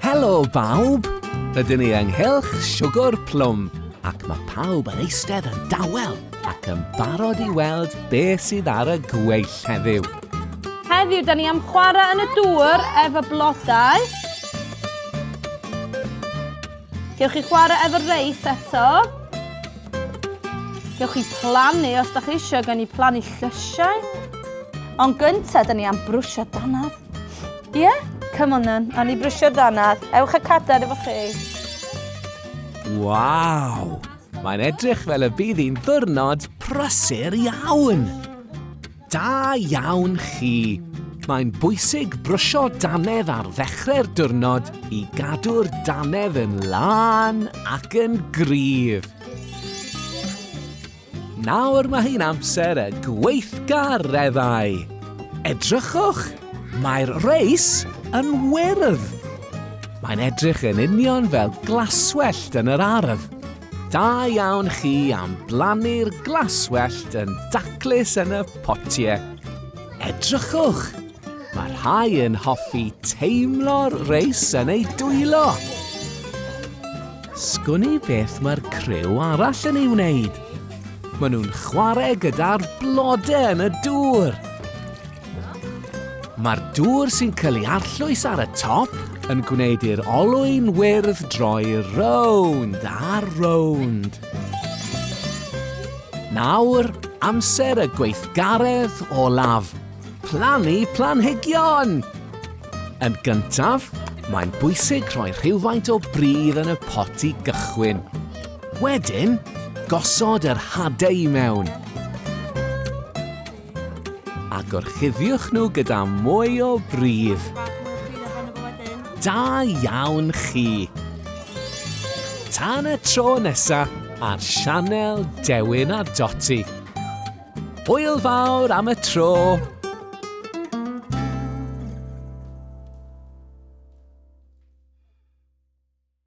Helo bawb! Rydyn ni ynghylch siwgr plwm ac mae pawb yn eistedd yn dawel ac yn barod i weld beth sydd ar y gweill heddiw. Heddiw, da ni am chwarae yn y dŵr efo blodau. Gewch chi chwarae efo'r reis eto. Gewch chi plannu os da chi eisiau gen i plannu llysiau. Ond gyntaf, da ni am brwsio danad. Ie? Yeah? Come on then, a ni brwsio danad. Ewch y cadar efo chi. Waw! Mae'n edrych fel y bydd hi'n ddwrnod prysur iawn. Da iawn chi! Mae'n bwysig brwsio dannedd ar ddechrau'r diwrnod i gadw'r dannedd yn lân ac yn gryf. Nawr mae hi'n amser y gweithgareddau. Edrychwch, mae'r reis yn wyrdd. Mae'n edrych yn union fel glaswellt yn yr ardd. Da iawn chi am blannu'r glaswellt yn daclus yn y potiau. Edrychwch! Mae rhai yn hoffi teimlo'r reis yn ei dwylo. Sgwn i beth mae'r criw arall yn ei wneud. Maen nhw'n chwarae gyda'r blodau yn y dŵr. Mae'r dŵr sy'n cael ei arllwys ar y top yn gwneud i'r olwyn wyrdd droi rownd a rownd. Nawr, amser y gweithgaredd olaf, plannu planhigion! Yn gyntaf, mae'n bwysig rhoi rhywfaint o bridd yn y pot i gychwyn. Wedyn, gosod yr hadau i mewn. A gorchuddiwch nhw gyda mwy o bridd. Da iawn chi! Tan y tro nesa ar sianel Dewin a Doti. Hwyl fawr am y tro!